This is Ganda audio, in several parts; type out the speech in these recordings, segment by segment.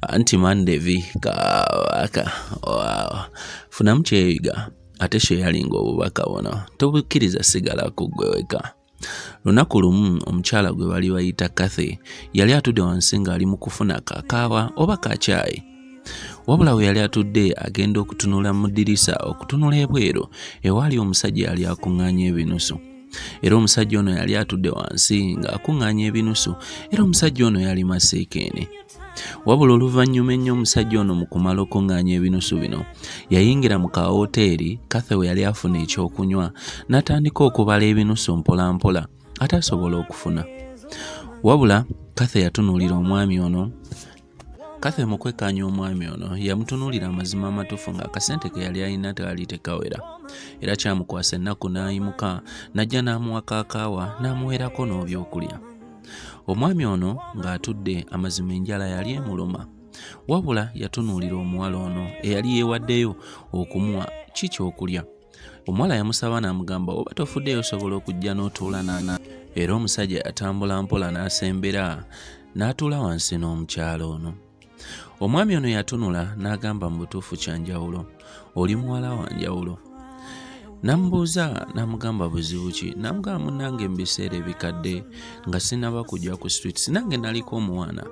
anti mande viika waka funamu kyeyiga ate sheyalinga obubaka buno tobukkiriza sigala ku ggwe weka lunaku lumu omukyala gwe bali bayita kathy yali atudde wansi ng'ali mu kufuna kakaawa oba kakyayi wabula we yali atudde agenda okutunula mu ddirisa okutunula ebweru ewaali omusajja yali akuŋŋaanya ebinusu era omusajja ono yali atudde wansi ng'akuŋŋaanya ebinusu era omusajja ono yali maseekeene wabula oluvannyuma ennyo omusajja ono mu kumala okuŋŋaanya ebinusu bino yayingira mu kawooteeri kathe we yali afuna ekyokunywa n'atandika okubala ebinusu mpolampola ate asobola okufuna wabula kathe yatunuulira omwami ono kathe mu kwekkaanya omwami ono yamutunuulira amazima amatuufu ng'akasente ke yali alina teali tekawera era kyamukwasa ennaku n'ayimuka n'ajja n'amuwa kaakaawa n'amuweerako n'obyokulya omwami ono ng'atudde amazima enjala yali emuluma wabula yatunuulira omuwala ono eyali yeewaddeyo okumuwa ki kyokulya omuwala yamusaba n'amugamba oba tofuddeyo osobola okujja n'otuula naana era omusajja yatambula mpola n'asembera n'atuula wansi n'omukyala ono. Omwami ono yatunula n'agamba mu butuufu kya njawulo, oli muwala wa njawulo. Namubuuza namugamba buzibu ki? Namugamba munange mu biseera ebikadde nga sinaba kujja ku street sinange naliko omwana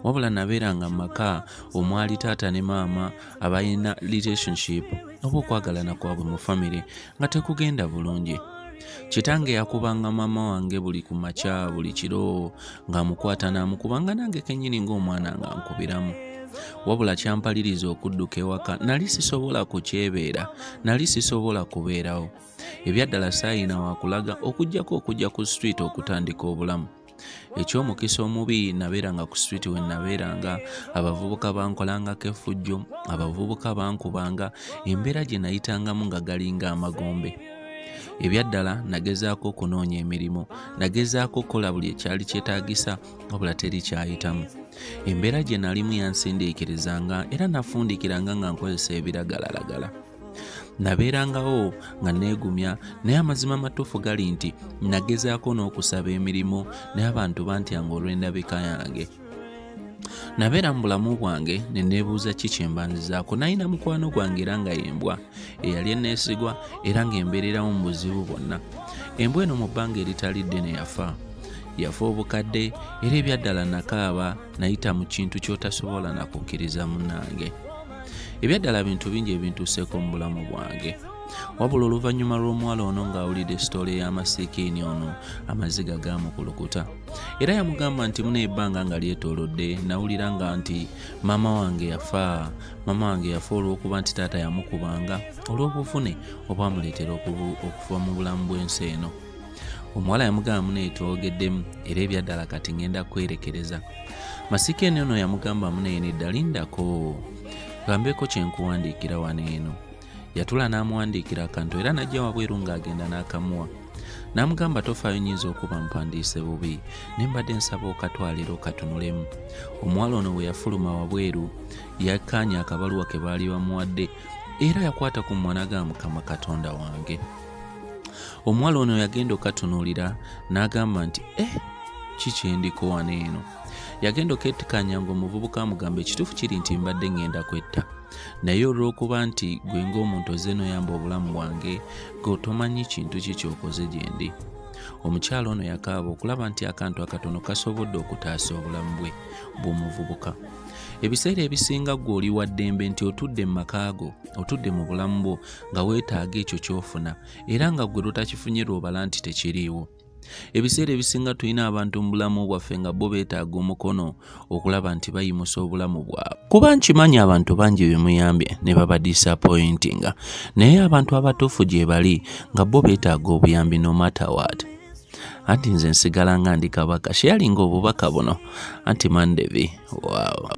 wabula nabeeranga mu maka omwali taata ne maama abalina relationship oba okwagalana kwabwe mu famire nga tekugenda bulungi kitange yakubanga maama wange buli ku makya buli kiro ng'amukwata n'amukuba nga nange kennyini ng'omwana nga nkubiramu wabula kyampaliriza okudduka ewaka nali sisobola kukyebeera nali sisobola kubeerawo ebyaddala saayina wakulaga okujjako okujja ku street okutandika obulamu eky'omukisa omubi nabeeranga ku street we nabeeranga abavubuka bankolangako effujjo abavubuka bankubanga embeera gye nayitangamu nga galinga amagombe ebyaddala nagezaako okunoonya emirimu nagezaako okukola buli ekyali kyetaagisa wabula teri kyayitamu embeera gye nalimu yansindiikirizanga era nafundikiranga nga nkozesa ebiragalalagala nabeerangawo nga neegumya naye amazima amatuufu gali nti nagezaako n'okusaba emirimu naye abantu bantyanga olw'endabika yange nabeera mu bulamu bwange ne neebuuza ki kye mbanzizaako nalina mukwano gwange era nga yembwa eyali eneesigwa era ng'embeererawo mu buzibu bwonna embwa eno mu bbanga eritali ddene yafa yafa obukadde era ebyaddala nakaaba nayita mu kintu ky'otasobola nakukkiriza munange ebyaddala bintu bingi ebintuuseeko mu bulamu bwange wabula oluvannyuma lw'omuwala ono ng'awulidde sitoole y'amasiikiini ono amaziga gaamukulukuta era yamugamba nti muna ebbanga nga lyetoolodde nawulira nga nti maama wange yafa maama wange yafa olw'okuba nti taata yamukubanga olw'obuvune obwamuleetera okuva mu bulamu bw'ensi eno omuwala yamugamba muno etwogeddemu era ebyaddala kati ngenda kwerekereza masika eno ono yamugamba muno eno eddalindako gambeeko kyenkuwandiikira wano eno yatula n'amuwandiikira akantu era najja wabweru ng'agenda n'akamuwa n'amugamba tofaayo nyinza okuba mpandiise bubi ne mbadde nsaba okatwalira okatunulemu omuwala ono bwe yafuluma wabweru yakkaanya akabaluwa ke baali bamuwadde era yakwata ku mwana ga mukama katonda wange omuwala ono yagenda okatunuulira n'agamba nti e eh, kikyendiko wano eno yagenda oketikanya nga omuvubuka amugamba ekituufu kiri nti mbadde ngenda kwetta naye olw'okuba nti gwe ng'omuntu ozze noyamba obulamu bwange gweotomanyi kintu ki kyokoze gyendi omukyala ono yakaaba okulaba nti akantu akatono kasobodde okutaasa obulamu bwe bw'omuvubuka ebiseera ebisinga gwe oli waddembe nti otudde mu makaago otudde mu bulamu bwo nga weetaaga ekyo ky'ofuna era nga ggwe lwotakifunye lw'obala nti tekiriiwo ebiseera ebisinga tulina abantu mu bulamu bwaffe nga bo beetaaga omukono okulaba nti bayimusa obulamu bwabwe kuba nkimanyi abantu bangi bemuyambye ne baba disappointinga naye abantu abatuufu gye bali nga bo beetaaga obuyambi no matter what anti nze nsigala nga ndi kabaka sheyalinga obubaka buno anti mandevi wow.